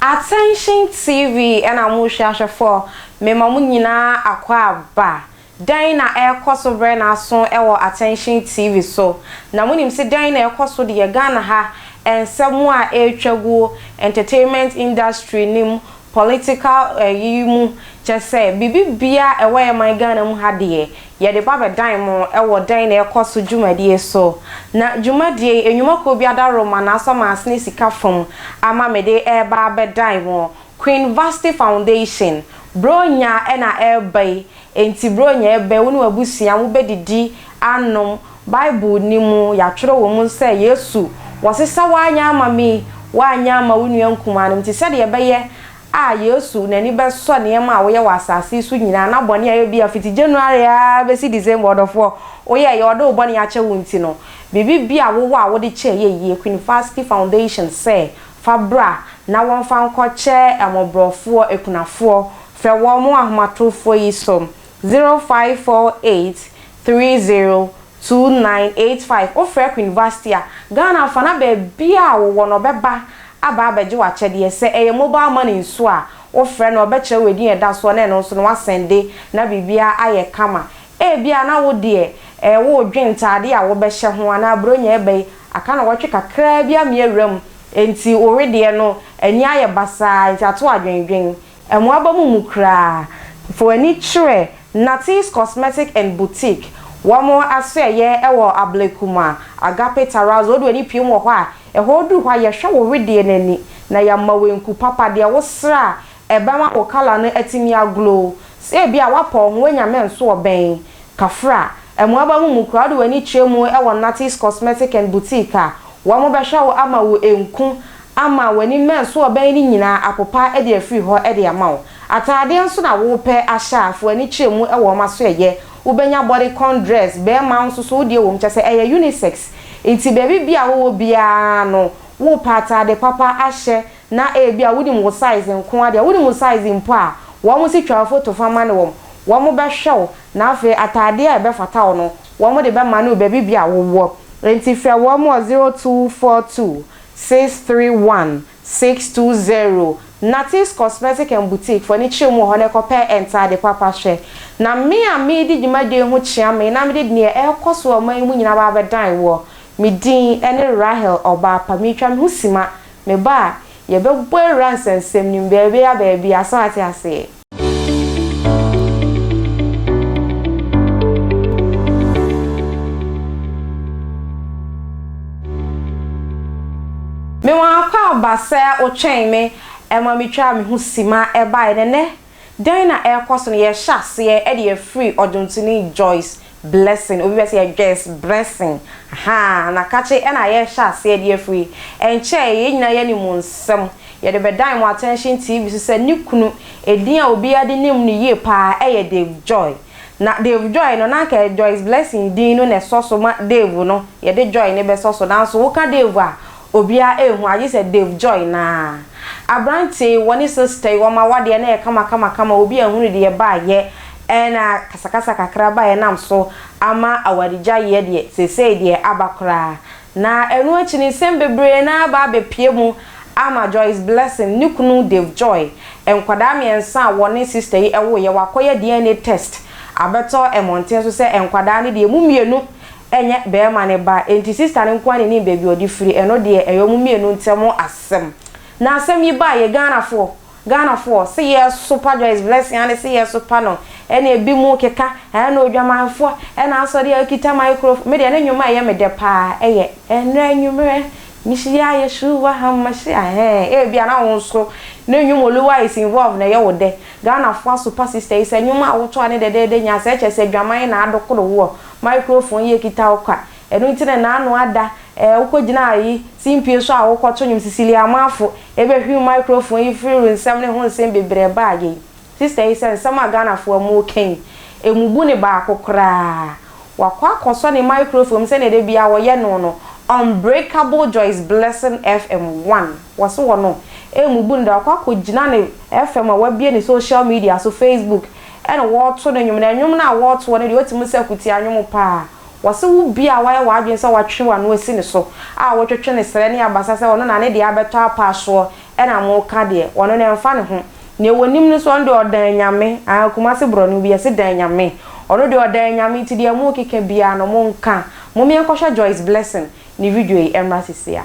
Attention TV na mo hwɛ ahwɛfoɔ mema mo nyinaa akwaaba dɛn na ɛrekɔso brɛ n'aso wɔ Attention TV so na monim se dɛn na ɛrekɔso deɛ Ghana ha nsɛm a ɛretwa guo entertainment industry no mu Political ɛyi mu kyɛ sɛ biribi bia ɛwɔ yɛ man Ghana mu ha deɛ yɛde ba bɛdan mo ɛwɔ dɛn na ɛkɔ so dwumadie so na dwumadie yi enwuma kuo bi adaworoma na asɔ maasene sika fam ama mede ɛɛba abɛdan mo Queen Vasti Foundation Bronya ɛna ɛɛba yi enti Bronya ɛɛba yi wo ne w'abusua mo bɛdidi anom Bible ni mu, yɛatwerɛ wɔ mu sɛ, Yesu, wɔsesa w'anyɛ ama me, woanyɛ ama wo nua nkumaa no, nti sɛdeɛ ɛbɛyɛ a Yesu n'ani bɛsɔ nneɛma a woyɛ wɔ asase yi so nyinaa, na bɔne a ebia fiti January ara bɛsi December, ɔdɔfoɔ, woyɛeɛ, ɔde wo bɔne akyɛ wo nti no, biribi bi a wowɔ a wode kyɛ yɛ yie, Queen Fasthi Foundation sɛ, fa bra na wɔmfa nkɔkyɛ mmɔborɔfoɔ, akunafoɔ, frɛ wɔn, mo ahomatorofoɔ yi so, 0548 Three zero two nine eight five Wo frɛ Queen Vasty a, Ghana fa na baabiara a wo wɔ no ɔbɛba aba abɛgye w'akyɛdeɛ. Sɛ ɛyɛ mobile money nso a, wo frɛ no a ɔbɛkyerɛ wo edin a ɛda soɔ na ɛno nso no wasɛnde na biribiara ayɛ kama. Ebia na wo deɛ ɛɛ woredwen ntaadeɛ a wobɛhyɛ ho anaa Buronya ɛba yi, aka nnawɔtwe kakraa bi amia wuram nti wo wedeɛ no ani ayɛ basaa nti ato adwendwen. Mmoaba mu mu koraa, fa w'ani kyerɛ Natty's Cosmetic and Boutique, wɔn asoɛeɛ wɔ Ablekuma, Agape Terrace, wode w'ani pue mu wɔ hɔ a, ɛhɔ duru hɔ a yɛhwɛ wo wedeɛ no ani na yɛama wo nku papa, deɛ wo srɛ a ɛbɛma wo colour no atumi a glow. Sɛ ebia woapa wo ho woanya me nso wɔ bɛn? Kafra, Mmoaba mu mu koraa, wode w'ani kyerɛ mu wɔ Natty's Cosmetic and Boutique a, wɔn bɛhwɛ wo ama wo nku, ama w'ani mmɛn nso a ɔbɛn no nyinaa apopa de afiri hɔ de ama wo. Ataadeɛ nso na worepɛ ahyɛ a, fa w'ani kyerɛ mu wɔ wɔn asoɛeɛ. Wobɛnya bodycon dress, barima nso so wodeɛ wɔ mu, kyerɛ sɛ ɛyɛ unisex. Nti baabi biara a wowɔ biara no, worepɛ ataade papa ahyɛ na ebia wonim wo size nko ara deɛ, wonim wo size mpo a, wɔn se twa foto fa ma no wɔn, wɔbɛhwɛ wo na afei ataadeɛ a ɛbɛfata wo no, wɔde bɛma no baabi biara a wowɔ. Nti frɛ wɔn wɔ zero two four two. Six three one six two zero Natees Cosmetic and Boutique fo ani kyerɛ mu wɔ hɔ na ɛkɔpɛ ntaade papa hwɛ. Na me a meredi dwumadie yi ho kyea me na mede deɛ ɛrekɔ so wɔ ɔman yi mu nyinaa aba abɛdan woɔ. Me din ne Rahel Ɔbaapa. Meretwa me ho sima. Meba a, yɛbɛbɔ awura nsɛnsɛm no mu baabiara baabiara. So ate aseɛ? Me wɔ ha kwa aba sɛ wo twɛn me ɛma me twaa me ho sima ɛbaeɛ na ɛnɛ dɛn na ɛrekɔ so no yɛrehyɛ aseɛ de afiri ɔdwontoni Joyce Blessing, obi bɛse yɛ Dwes, Bressing, ahaa, na kakye ɛna yɛrehyɛ aseɛ de afiri. Ɛnkyɛe, yɛn nyinaa yɛne mu nsɛm. Yɛde bɛdan mo attention TV so sɛ ne kunu, edin a obiara de nim no yie pa ara yɛ Dave Joy. Na Dave Joy no, na anka ɛyɛ Joyce Blessing din no na ɛsɔ so ma Dave no, yɛde Joy no bɛsɔ so. Nanso woka Dave a, Obiara ehu agye sɛ Dave Joy naa. Aberantsɛ yi wɔ ne sister yi wɔma wadeɛ na yɛ kama kama kama obi ahunu deɛ baayɛ ɛna kasakasa kakra baayɛ nam so ama awaregya yɛ deɛ sesei deɛ aba koraa na ɛno akyi no nsɛm bebree na aba abɛpue mu ama Joyce Blessing ne kunu Dave Joy nkwadaa miɛnsa a wɔne sister yi ɛwoeɛ wakɔyɛ DNA test abɛtɔ mmɔnten so sɛ nkwadaa no deɛ emu mienu ɛnyɛ bɛɛma ne ba enti sista no nkoa ne nim baabi ɔde firi ɛno deɛ ɛyɛ ɔmo mmienu ntɛm asɛm na asɛm yi baa yɛ Ghanafoɔ Ghanafoɔ se yɛ sopa Joyce Blessing ane se yɛ sopa no ɛne ɛbi mo keka ɛɛ na odwamanfoɔ ɛna asɔ deɛ ɔkita microphone me deɛ ne nnwom a ɛyɛ me dɛ paa ɛyɛ ɛnrɛ anwummerɛ mehyia Yeshua Hamashiah ɛhɛɛ ɛɛbi a na wo nso ne nnwom Oluwa is involved na ɛyɛ wo dɛ Ghanafoɔ asopa sista yi sɛ nnwom a woto a ne dɛdɛɛdɛ nyaa sɛ ɛkyɛ sɛ dwaman na adokoro woɔ. Microphone yi ekita wo kwa. Ɛno nti na n'ano ada eh Wokɔ gyina ayi si mpie so a wokɔ to nwom Cecilia Amanfo ebɛ hwiw microphone yi firi ru nsɛm ne ho nsɛm bebrɛɛ baa yei Sister yi sɛ nsɛm a Ghana foɔ mo ka yi emu bu ne baako koraa Wakɔ akɔ sɔ ne microphone sɛdeɛ da biaa wɔ yɛ no no Unbreakable Joyce Blessing FM one wɔ se wɔ no emu bu ne da wakɔ akɔ gyina ne FM a wabie ne social media so Facebook Ɛna wɔɔto no nwom, na nwom no a wɔɔto hɔ no deɛ ɔte mu sɛ akutia nwom paa. Wɔse wo bi a wayɛ w'adwene sɛ watwe w'ano asi ne so a wotwetwe ne serɛ ne abasa sɛ ɔno na ne deɛ abɛtɔ apaa soɔ na moka deɛ, ɔno no ɛmfa ne ho. Deɛ wɔnim no nso ɔno deɛ ɔdan Nyame, aah Kumasi borɔno bi yɛse dan Nyame, ɔno deɛ ɔdan Nyame nti deɛ mookeka biara no monka. Momeɛnkɔhwɛ Joyce Blessing ne video yi ɛmmra sisiaa.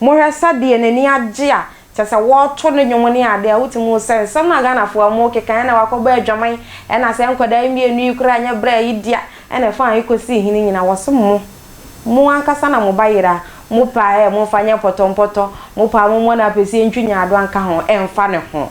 Mohwɛ sɛdeɛ n'ani agye a kyerɛ sɛ wɔɔto no dwom ne adeɛ a wotumi hu sɛ nsɛm no a Ghanafoɔ a mookeka ɛna wakɔbɔ adwaman ɛna sɛ nkwadaa yi mmienu yi koraa nyɛ bra yi dea ɛna ɛfaa yi kɔsii he no nyinaa wɔse mo mo ankasa na mo ba yere a mopaa ɛ momfa nyɛ mpɔtɔmpɔtɔ mopaa mommɔ no apɛsie ntwi nyaadoa nka ho ɛmfa ne ho.